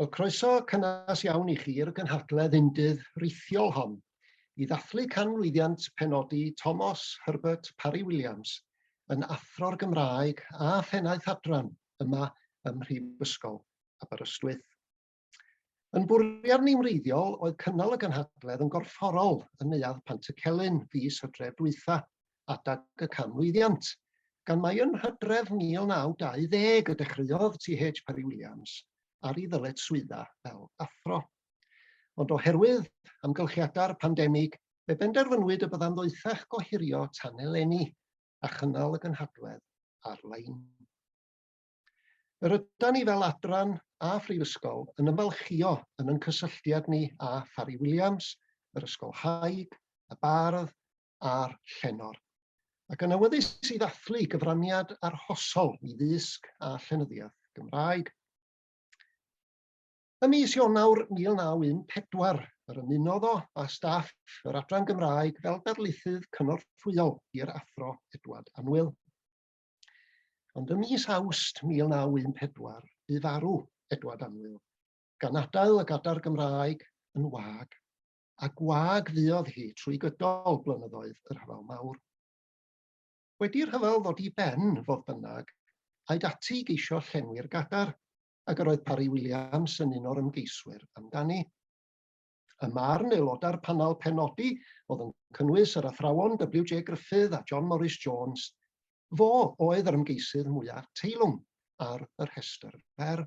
Wel, croeso cynnes iawn i chi i'r gynhadledd undydd rithiol hon i ddathlu canmlwyddiant penodi Tomos Herbert Parry Williams yn Athro'r Gymraeg a Phennaeth Adran yma ym Mhrifysgol Aberystwyth. Yn bwriad ni'n wreiddiol oedd cynnal y gynhadledd yn gorfforol yn Neuadd Pantycelyn fis hydref dwytha, adeg y canmlwyddiant, gan mai yn Hydref 1920 y dechreuodd TH Parry Williams ar ei ddyletswydda fel athro. Ond oherwydd amgylchiadau'r pandemig, fe benderfynwyd y byddai'n ddoethach gohirio tan eleni a chynnal y gynhadledd ar-lein. Yr ydan ni fel adran a phrifysgol yn ymfalchio yn yn cysylltiad ni â Pharry Williams, yr Ysgol Haig, y Bardd, a'r llenor, ac yn awyddus i ddathlu gyfraniad arhosol i ddysg a llenyddiaeth Gymraeg. Ym mis Ionawr 1914, yr ymunodd o â staff yr Adran Gymraeg fel darlithydd cynorthwyol i'r Athro Edward Anwyl. Ond ym mis Awst 1914, bu farw Edward Anwyl, gan adael y Gadar Gymraeg yn wag. a gwag fuodd hi trwy gydol blynyddoedd y Rhyfel Mawr. Wedi'r rhyfel ddod i ben, fodd bynnag, aed ati i geisio llenwi'r gadar, ac yr oedd Parry Williams yn un o'r ymgeiswyr amdani. Y marn aelodau'r panel penodi, oedd yn cynnwys yr athrawon WJ Gruffydd a John Morris Jones, fo oedd yr ymgeisydd mwyaf teilwng ar y rhestr fer.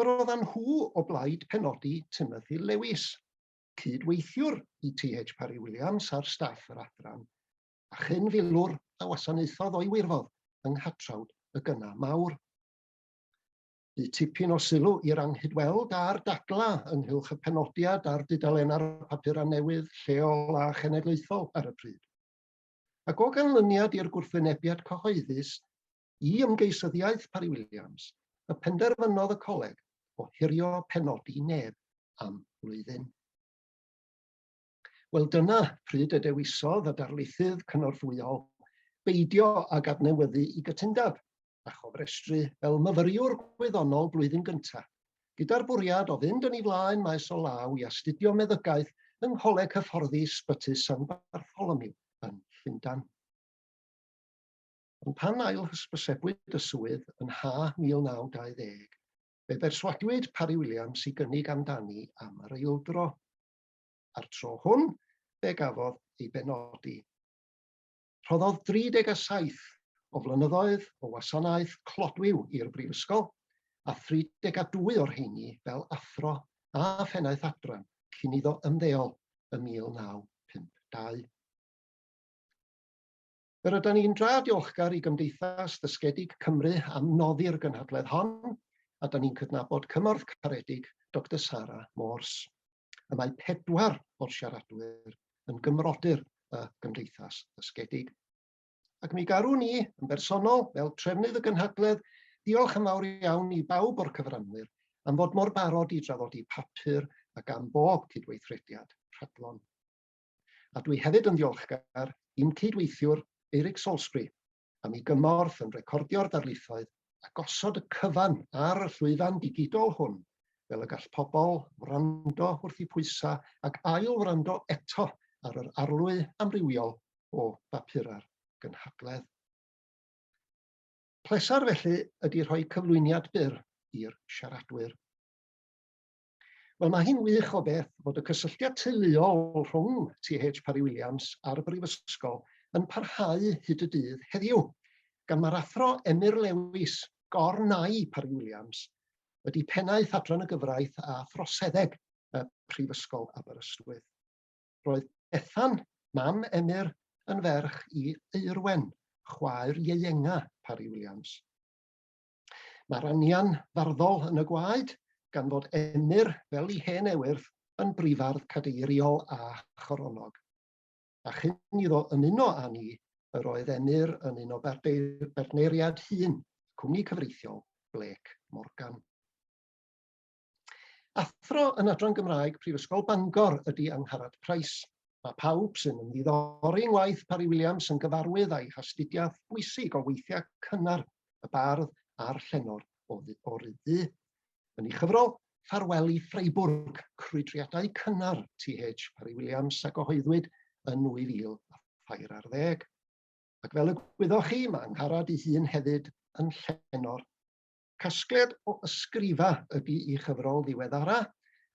Yr oeddan nhw o blaid penodi Timothy Lewis, cyd-weithiwr i TH Parry-Williams ar staff yr adran, a chyn filwr a wasanaethodd o'i wirfodd yng nghatrawd y gyna mawr. Bu tipyn o sylw i'r anghydweld a'r dadla ynghylch y penodiad a'r dudalennau'r papurau newydd lleol a chenedlaethol ar y pryd. Ac o ganlyniad i'r gwrthwynebiad cyhoeddus, i ymgeisyddiaeth Parry Williams, y penderfynodd y coleg ohirio penodi neb am flwyddyn. Wel dyna pryd y dewisodd y darlithydd cynorthwyol beidio ag adnewyddu i gytundeb a chofrestru fel myfyriwr gwyddonol blwyddyn gyntaf, gyda'r bwriad o fynd yn ei flaen maes o law i astudio meddygaeth yng Ngholeg Hyfforddi Sbyty San Bartholomew yn Llundain. Ond pan ail-hysbysebwyd y swydd yn ha 1920, fe berswadwyd Parry Williams i gynnig amdani am yr eildro. A'r tro hwn, fe gafodd ei benodi. Rhoddodd 37 o flynyddoedd o wasanaeth clodwiw i'r Brifysgol, a 32 o'r rheini fel athro a phennaeth adran cyn iddo ymddeol ym 1952. Yr ydym ni'n dra diolchgar i Gymdeithas Ddysgedig Cymru am noddi'r gynhadledd hon, a dan ni'n cydnabod cymorth caredig Doctor Sara Morse. Y mae pedwar o'r siaradwyr yn gymrodyr y Gymdeithas Ddysgedig. Ac mi garwn ni, yn bersonol, fel trefnydd y gynhadledd, diolch yn fawr iawn i bawb o'r cyfranwyr am fod mor barod i drafodi papur ac am bob cydweithrediad rhadlon. A dwi hefyd yn ddiolchgar i'n cyd-weithiwr Eric Salisbury am ei gymorth yn recordio'r darlithoedd a gosod y cyfan ar y llwyfan digidol hwn fel y gall pobl wrando wrth eu pwysau ac ail-wrando eto ar yr arlwy amrywiol o bapurau'r gynhadledd. Pleser felly ydy rhoi cyflwyniad byr i'r siaradwyr. Wel, mae hi'n wych o beth fod y cysylltiad teuluol rhwng TH Parry Williams a'r Brifysgol yn parhau hyd y dydd heddiw, gan mae'r Athro Emyr Lewis, gorn ai Parry Williams, wedi pennaeth Adran y Gyfraith a Throseddeg y Prifysgol Aberystwyth. Roedd Bethan, mam Emyr, yn ferch i Eirwen, chwaer ieuenga Parry Williams. Mae'r anian farddol yn y gwaed, gan fod Emyr, fel i hen ewyrth, yn brifardd cadeiriol a choronog. A chyn iddo ymuno â ni, yr oedd Emyr yn un o bartneiriad hun y cwmni cyfreithiol, Blake Morgan. Athro yn Adran Gymraeg Prifysgol Bangor ydy Angharad Price. Mae pawb sy'n ymddiddori yng ngwaith Parry Williams yn gyfarwydd â'i hastudiaeth bwysig o weithiau cynnar y bardd a'r llenor o Ryddu. Yn ei chyfrol, Ffarwel i Freiburg, crwydriadau cynnar TH Parry Williams a gyhoeddwyd yn 2000 a thair ar ddeg. Ac fel y gwyddoch chi, mae Angharad ei hun hefyd yn llenor Casgliad o ysgrifa ydy ei chyfrol ddiweddara,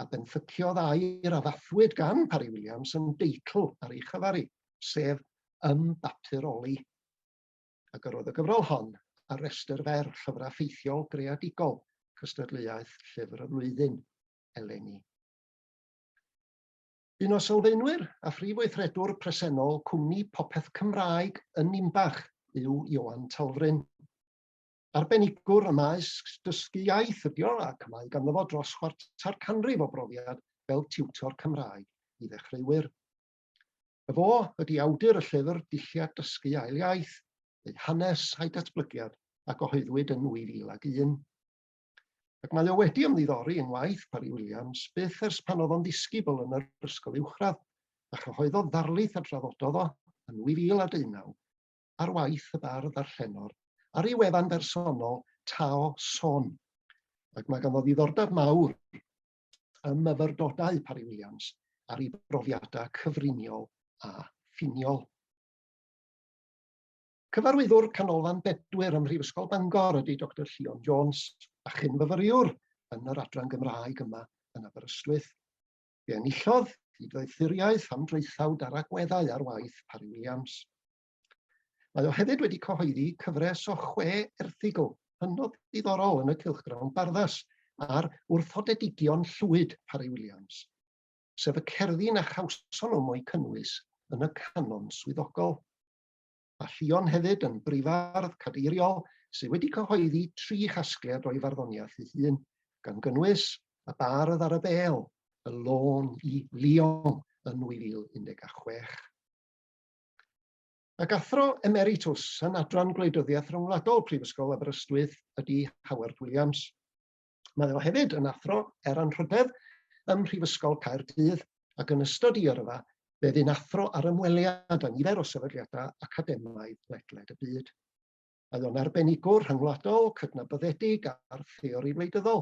a benthyciodd air a ddathluwyd gan Parry Williams yn deitl ar ei chyfari, sef Ym Bapur Oli. A gyrrodd y gyfrol hon ar restr fer Llyfrau Ffeithiol Greadigol Cystadleuaeth Llyfr y Flwyddyn eleni. Un o sylfaenwyr a phrif weithredwr presennol cwmni Popeth Cymraeg yn Ninbach yw Ioan Talfryn. arbenigwr ym maes dysgu iaith ydy o, ac mae ganddo fo dros chwarter canrif o brofiad fel tiwtor Cymraeg i ddechreuwyr. Y fo ydy awdur y llyfr Dulliau Dysgu Ail Iaith, ei hanes a'i datblygiad a gyhoeddwyd yn 2001. Ac mae o wedi ymddiddori yng ngwaith Parry Williams byth ers pan oedd o'n ddisgybl yn yr ysgol uwchradd, a chyhoeddodd ddarlith a drafododd o yn 2019 ar waith y bardd a'r llenor, ar ei wefan bersonol, Tao Son. Ac mae ganddo ddiddordeb mawr ym myfyrdodau Parry Williams ar ei brofiadau cyfriniol a ffiniol. Cyfarwyddwr Canolfan Bedwyr ym Mhrifysgol Bangor ydy Dr Llion Jones, a chyn-fyfyriwr yn yr adran Gymraeg yma yn Aberystwyth. Fe enillodd gydweithuriaeth am draethawd ar agweddau ar waith Parry Williams. Mae o hefyd wedi cyhoeddi cyfres o chwe erthygl hynod ddiddorol yn y cylchgrawn barddas ar wrthodedigion llwyd Parry Williams, sef y cerddi na chawson nhw mo'u cynnwys yn y canon swyddogol. a Ffion hefyd yn brifardd cadeiriol sydd wedi cyhoeddi tri chasgliad o'i farddoniaeth ei hun, gan gynnwys Y Bardd ar y Bêl, Y Lôn i Lyon yn 2016. Ac athro emeritws yn Adran Gwleidyddiaeth Ryngwladol Prifysgol Aberystwyth ydy Howard Williams. Mae o hefyd yn athro er anrhydedd ym Mhrifysgol Caerdydd ac yn ystod ei yrfa fe fu'n athro ar ymweliad â nifer o sefydliadau academaidd ledled y byd. Mae o'n arbenigwr rhyngwladol, cydnabyddedig a'r theori wleidyddol,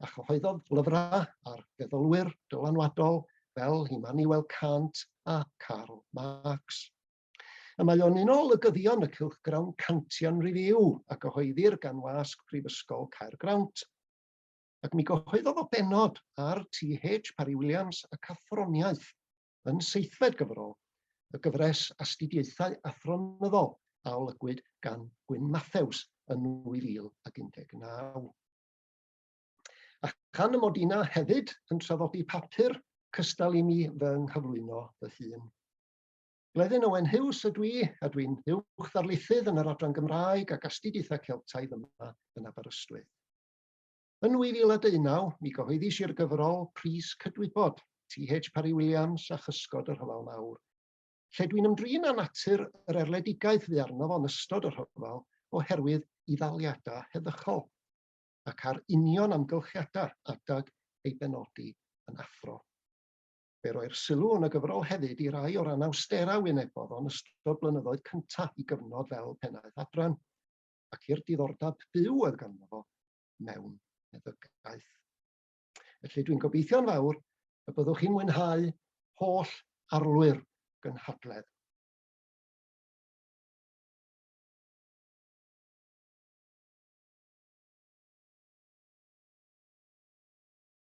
a chyhoeddodd lyfrau ar feddylwyr dylanwadol fel Immanuel Kant a Karl Marx. A mae o'n un o olygyddion y cylchgrawn Cantian Review a gyhoeddir gan wasg Prifysgol Caergrawnt. Ac mi gyhoeddodd o bennod ar TH Parry Williams ac Athroniaeth yn seithfed gyfrol y gyfres Astudiaethau Athronyddol a olygwyd gan Gwyn Mathews yn 2019. A chan y mod i 'na hefyd yn traddodi papur cystal i mi fy nghyflwyno fy hun. Bleddyn Owen Huws ydw i, a dwi'n Uwch Ddarlithydd yn yr Adran Gymraeg ac Astudiaethau Celtaidd yma yn Aberystwyth. Yn 2019, mi gyhoeddis i'r gyfrol Pris Cydwybod, TH Parry Williams a Chysgod y Rhyfel Mawr, lle dwi'n ymdrin â natur yr erledigaeth fu arno fo'n ystod y rhyfel oherwydd i ddaliadau heddychol, ac ar union amgylchiadau adeg ei benodi yn Athro. Fe roi'r sylw yn y gyfrol hefyd i rai o'r anawsterau a wynebodd o yn ystod blynyddoedd cyntaf i gyfnod fel Pennaeth Adran, ac i'r diddordeb byw oedd ganddo fo mewn meddygaeth. Felly dwi'n gobeithio'n fawr y byddwch chi'n mwynhau holl arlwy'r gynhadledd.